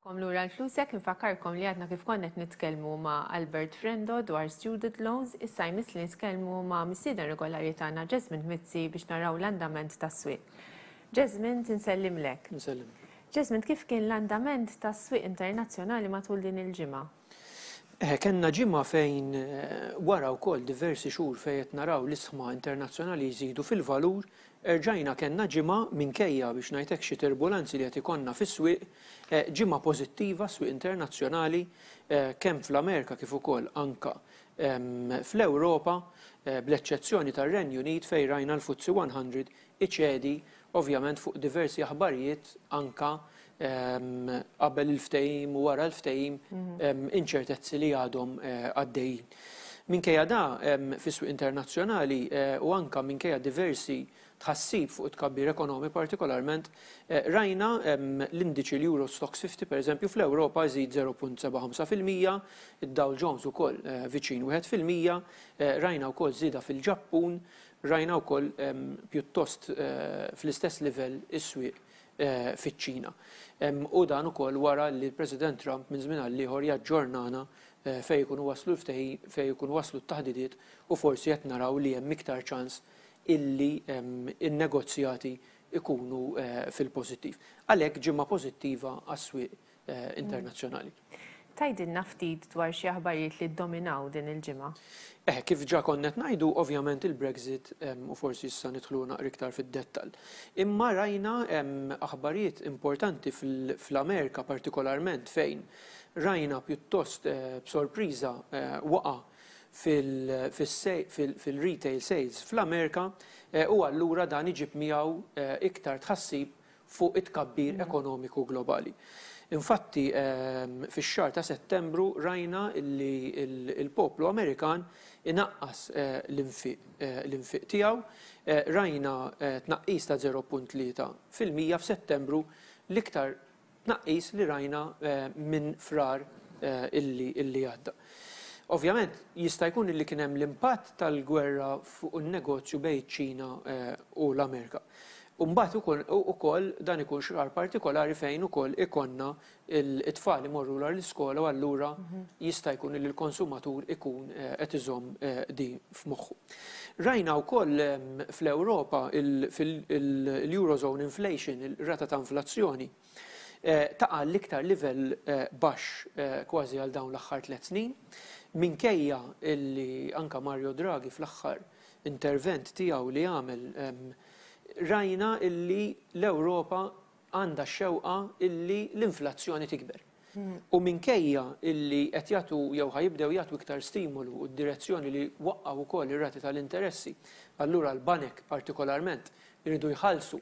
Kom lura l-flusek nfakkarkom li għadna kif konnet nitkellmu ma' Albert Frendo dwar student loans, issa jmiss li nitkellmu ma' missieden regolari tagħna Jasmine Mizzi biex naraw l-andament tas-swieq. Jasmine, tinsellimlek. Insellimlek. Jasmine, kif kien l-andament tas-swieq internazzjonali matul din il-ġimgħa? Kellna ġimgħa fejn wara wkoll diversi xhur fejn qed naraw l-isħma internazzjonali jżidu fil-valur, erġajna kellna ġimgħa, minkejja biex ngħidlek xi turbulenzi li qed ikollna fis-swieq, ġimgħa pożittiva għas-swieq internazzjonali kemm fl-Amerika kif ukoll anke fl-Ewropa, bl-eċċezzjoni tar-Renju Unit fejn rajna l-FTSE 100 iċedi ovvjament fuq diversi aħbarijiet anke qabel il-ftehim u wara l-ftehim inċertezzi li għadhom għaddejjin. Minkejja da, fis-swieq internazzjonali u anke minkejja diversi tħassib fuq it-tkabbir ekonomi partikolarment, rajna l-indiċi l-Euro Stoxx 50 pereżempju fl-Ewropa jżid 0.75 fil-mija, id-Dow Jones ukoll viċin wieħed fil-mija, rajna wkoll żieda fil-Ġappun Rajna wkoll pjuttost fl-istess livell is-swieq fiċ-Ċina. U dan ukoll wara li l-President Trump minn żmien għal ieħor jaġġornana fejn ikunu waslu l-ftehim, fejn ikunu waslu t-taħdidiet u forsi qed naraw li hemm iktar ċans illi n-negozjati jkunu fil-pożittiv. Għalhekk ġimgħa pożittiva għas-swieq internazzjonali. Tgħidilna ftit dwar xi aħbarijiet li ddominaw din il-ġimgħa? Eh, kif ġa konna qed ngħidu, ovvjament il-Brexit u forsi issa nidħlu naqra iktar fid-dettall. Imma rajna aħbarijiet importanti fl-Amerika partikolarment fejn rajna pjuttost eh, b'sorpriża eh, waqa' fil-retail sales fl-Amerika eh, u allura dan iġib miegħu iktar tħassib fuq it-tkabbir ekonomiku globali. Infatti, fix-xahar ta' Settembru rajna li l-poplu Amerikan inaqqas l-infiq tiegħu, rajna tnaqqis ta' 0.3 fil-mija f'Settembru, l-iktar tnaqqis li rajna minn Frar li għadda. Ovvjament, jista' jkun li kien hemm l-impatt tal-gwerra fuq in-negozju bejn iċ-Ċina u l-Amerika. U mbagħad ikun ukoll dan ikun xrar partikolari fejn ukoll ikollna it-tfal imorru wara l-iskola u allura jista' jkun li l-konsumatur ikun qed iżomm din f'moħħu. Rajna wkoll fl-Ewropa l-Eurozone inflation, ir-rata ta' inflazzjoni, taqa' l-iktar livell baxx kważi għal dawn l-aħħar tliet snin, minkejja li anke Mario Draghi fl-aħħar intervent tiegħu li għamel rajna illi l-Ewropa għandha x-xewqa illi l-inflazzjoni tikber. U minkejja illi qed jagħtu jew ħa jibdew jagħtu iktar stimolu u d-direzzjoni li waqqgħu wkoll ir-rati tal-interessi, allura l-banek partikolarment iridu jħallsu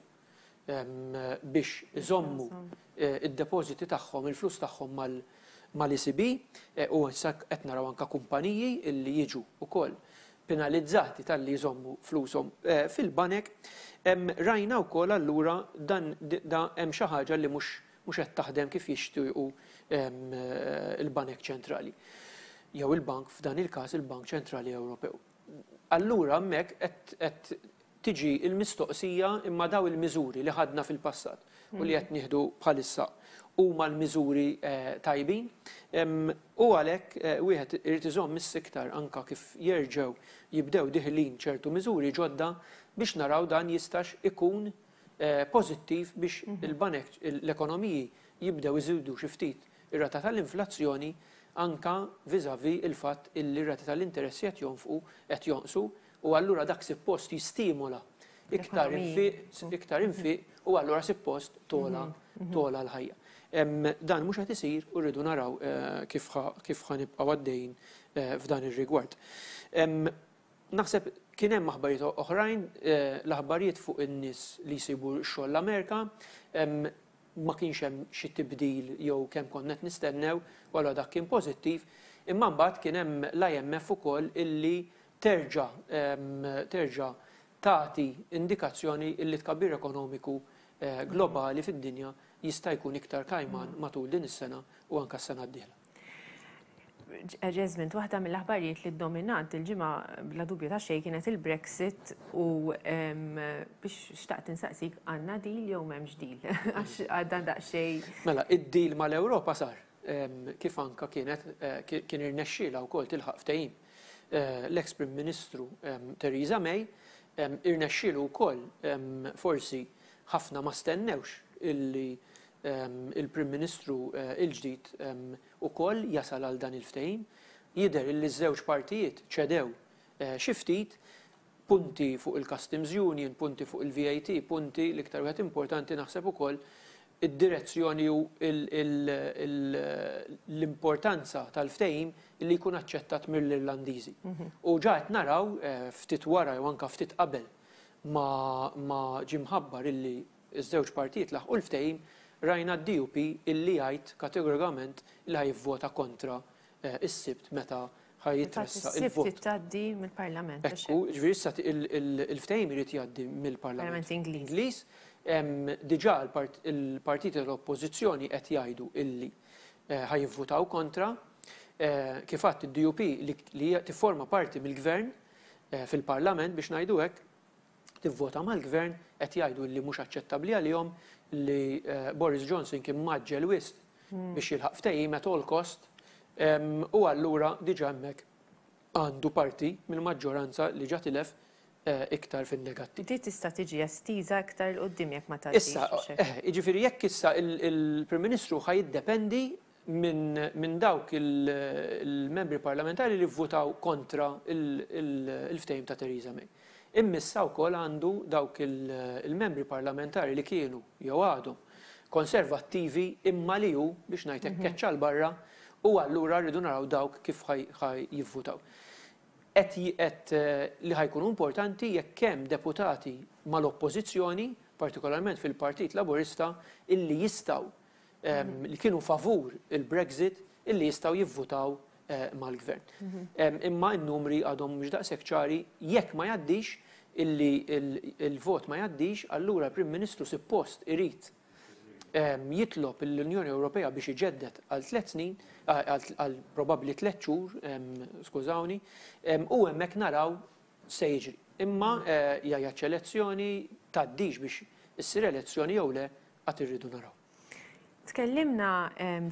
biex iżommu d-depożiti tagħhom, il-flus tagħhom mal-ECB, u issa qed naraw anke kumpaniji li jiġu wkoll penalizzati talli jżommu flushom fil-banek. Rajna wkoll allura dan hemm xi ħaġa li mhux qed taħdem kif jixtiequ l-banek ċentrali, jew il-bank, f'dan il-każ il-Bank Ċentrali Ewropew. Allura hemmhekk qed tiġi l-mistoqsija imma dawn il-miżuri li ħadna fil-passat u li qed nieħdu bħalissa huma l-miżuri tajbin u għalhekk wieħed irid iżomm is-siktar anke kif jerġgħu jibdew diħlin ċertu miżuri ġodda biex naraw dan jistax ikun pożittiv biex il-banek l-ekonomiji jibdew iżidu xi ftit ir-rata tal-inflazzjoni anke vis-à-vis il-fatt illi r-rati tal-interessi qed jonfqu qed jonqsu u allura dak sippost jistimola iktar infiq, iktar infiq u allura sippost togħla, togħla l-ħajja. Dan mhux qed isir u rridu naraw kif ħa, kif ħa nibqgħu għaddejjin f'dan ir-rigward. Naħseb kien hemm aħbarijiet oħrajn, l-aħbarijiet fuq in-nies li jsibu x-xogħol l-Amerika, ma kienx hemm xi tibdil jew kemm konna qed nistennew u allura dak kien pożittiv, imma mbagħad kien hemm l-IMF ukoll illi terġa' terġa' tagħti indikazzjoni li t-tkabbir ekonomiku globali fid-dinja jista' jkun iktar kajman matul din is-sena u anke s-sena d-dieħla. Jesmint, waħda mill-aħbarijiet li ddominat il-ġimgħa bla dubju ta' xejn kienet il-Brexit u biex xtaqt insaqsik għandna deal jew m'hemmx deal għax għadha daqsxejn. Mela, id-deal mal-Ewropa sar kif anke kienet kien irnexxielha wkoll tilħaq ftehim l-eks Prim Ministru Theresa May, irnexxielu wkoll forsi ħafna ma stennewx illi l-Prim Ministru l-ġdid ukoll jasal għal dan il-ftehim. Jidher illi ż-żewġ partijiet ċedew xi ftit. punti fuq il-customs union, punti fuq il-VAT, punti, l-iktar wieħed importanti naħseb ukoll, id-direzzjoni u l-importanza tal-ftehim li jkun aċċettat mill-Irlandiżi. U ġa qed naraw, ftit wara jew anke ftit qabel ma ġie mħabbar illi ż-żewġ partijiet laħqu l-ftehim, rajna d-DUP illi jgħid kategorikament li ħa jivvota kontra is-Sibt meta ħa jitressaq il-vot. Fil-fatt is-Sibt tgħaddi mill-Parlament. Ekku, jiġifieri issa il-ftehim irid jgħaddi mill-Parlament Ingliż. Diġà il-partiti tal-Oppożizzjoni qed jgħidu illi ħa jivvutaw kontra. Kif għadt id-DUP li hija tifforma parti mill-Gvern fil-Parlament biex ngħidu hekk, tivvota mal-Gvern qed jgħidu li mhux aċċettabbli għalihom li Boris Johnson kien mgħaġġel wisq biex jilħaq ftehim at all cost u allura diġà hemmhekk għandu parti mill-maġġoranza li ġa tilef iktar fin-negattiv. Di tista' tiġi estiża iktar 'il quddiem jekk ma tgħaddix. Issa, jiġifieri jekk issa il-Prim Ministru ħa jiddependi minn dawk il-Membri Parlamentari li vvutaw kontra il-ftehim ta' Theresa May. Immissha wkoll għandu dawk il-Membri Parlamentari li kienu, jew għadhom, Konservattivi imma li hu, biex ngħid hekk, keċċa 'l barra u allura rridu naraw dawk kif ħa jivvutaw. Qed qed li ħa jkunu importanti jekk hemm deputati mal-Oppożizzjoni, partikolarment fil-Partit Laburista, illi jistgħu li kienu favur il-Brexit illi jistgħu jivvutaw mal-Gvern. Imma n-numri għadhom mhux daqshekk ċari jekk ma jgħaddix illi l-vot ma jgħaddix allura l-Prim Ministru sippost irid jitlob lill-Unjoni Ewropea biex iġedded għal tliet snin, għal probabbli tliet xhur, skużawni, u hemmhekk naraw x'se jiġri. Imma jgħid x'elezzjoni tgħaddix biex issir elezzjoni jew le Għad irridu naraw. Tkellimna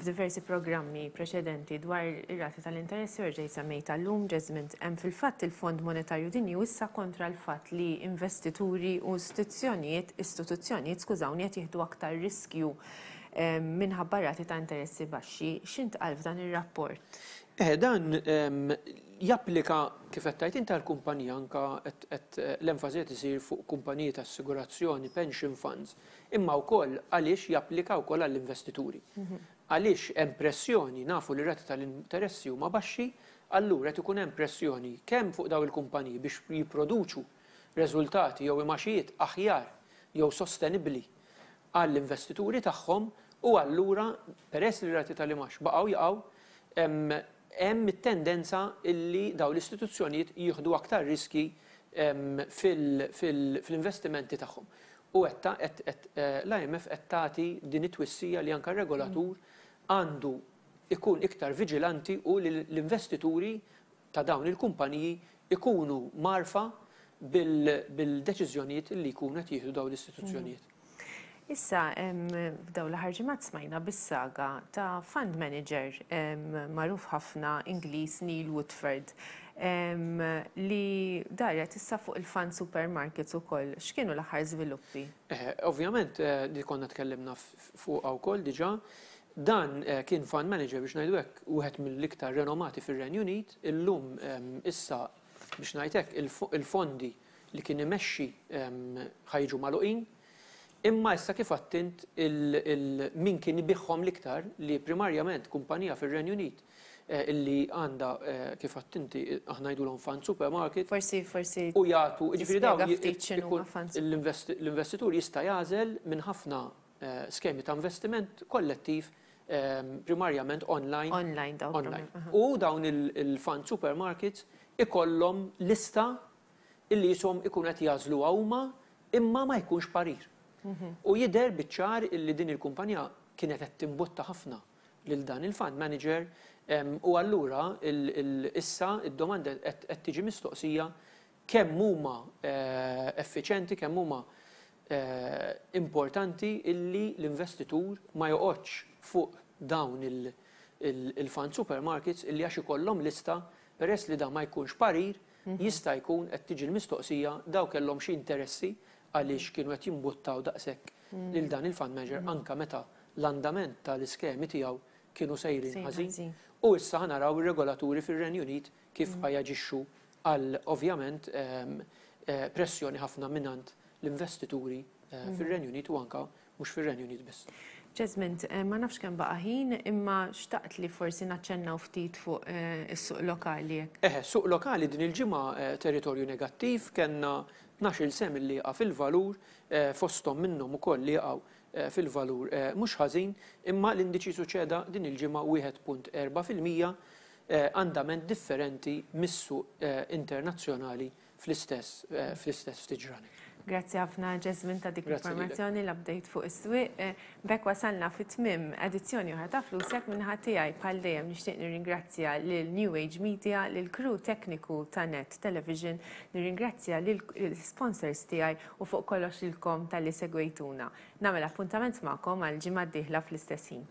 f'diversi programmi preċedenti dwar ir-rati tal-interessi u rġejt semmejta llum ġeżmint hemm fil-fatt il-Fond Monetarju Dinji issa kontra l-fatt li investituri u istituzzjonijiet istituzzjonijiet skużawni qed jieħdu aktar riskju minħabba rati ta' interessi baxxi. X'intqal f'dan ir-rapport? Eh, dan japplika kif qed tgħid inti l-kumpanija anka qed l-enfasi qed isir fuq kumpaniji ta' assigurazzjoni, pension funds imma wkoll għaliex japplika wkoll għall-investituri. Għaliex hemm pressjoni, nafu li r-rati tal-interessi huma baxxi, allura qed ikun hemm pressjoni kemm fuq dawn il-kumpaniji biex jipproduċu reżultati jew imgħaxijiet aħjar jew sostenibbli għall-investituri tagħhom u allura peress li r-rati tal-imgħax baqgħu jaqgħu, hemm hemm it-tendenza li dawn l-istituzzjonijiet jieħdu aktar riskji fil-investimenti tagħhom. U l-IMF qed tagħti din it-twissija li anke r-regolatur għandu jkun iktar viġilanti u li l-investituri ta' dawn il-kumpaniji jkunu mgħarrfa bil-deċiżjonijiet li jkunu qed jieħdu dawn l-istituzzjonijiet. Issa, f'daw l-aħħar ġimgħat smajna bis-saga ta' fund manager magħruf ħafna Ingliż Neil Woodford li daret issa fuq il-fund supermarkets ukoll. X'kienu l-aħħar żviluppi? Ovvjament, li konna tkellimna fuqha wkoll diġà, dan kien fund manager biex ngħidu hekk wieħed mill-iktar renomati fir-Renju Unit. Illum issa biex ngħid hekk il-fondi li kien imexxi ħa jiġu magħluqin, imma issa kif għedt int min kien ibiegħhom l-iktar li primarjament kumpanija fir-Renju Unit li għandha kif għedt inti aħna ngħidulhom fund supermarket. Forsi forsi tispjega ftit x'inhuma funds. U jagħtu, jiġifieri dawn l-investitur jista' jagħżel minn ħafna skemi ta' investiment kollettiv primarjament online. Online dawn. Online. U dawn il-fund supermarkets ikollhom lista li qishom ikunu qed jagħżluha huma imma ma jkunx parir. U jidher biċ-ċar li din il-kumpanija kienet qed timbutta ħafna lil dan il-fund manager u allura issa d-domanda qed tiġi mistoqsija kemm huma effiċjenti, kemm huma importanti illi l-investitur ma joqgħodx fuq dawn il-fund supermarkets illi għax ikollhom lista, peress li dan ma jkunx parir, jista' jkun qed tiġi l-mistoqsija dawn kellhom xi interessi għaliex kienu qed jimbuttaw daqshekk lil dan il-fund manager anke meta l-andament tal-iskemi tiegħu kienu sejrin ħażin. U issa ħa naraw ir-regolaturi fir-Renju Unit kif ħa jaġixxu għal ovvjament pressjoni ħafna mingħand l-investituri fir-Renju Unit u anke mhux fir-Renju Unit biss. Jesmond, ma nafx kemm baqa' ħin, imma xtaqt li forsi naċċennaw ftit fuq is-suq lokali jekk. Eħe, suq lokali din il-ġimgħa territorju negattiv, kellna tnax-il sehem li jaqa' fil-valur, fosthom minnhom ukoll li jaqgħu fil-valur mhux ħażin, imma l-indiċi su ċeda din il-ġimgħa 1.4 fil-mija, andament differenti mis-suq internazzjonali fl-istess fl-istess ftit ġranet. Grazzi ħafna Jasmine ta' dik l-informazzjoni, l-update fuq is-swieq. B'hekk wasalna fi tmiem edizzjoni oħra ta' Flusek min-naħa tiegħi bħal dejjem nixtieq nirringrazzja lil New Age Media, lill-crew tekniku ta' Net Television, nirringrazzja lill-sponsors tiegħi u fuq kollox lilkom talli segwejtuna. Nagħmel appuntament magħkom għall-ġimgħa d-dieħla fl-istess ħin.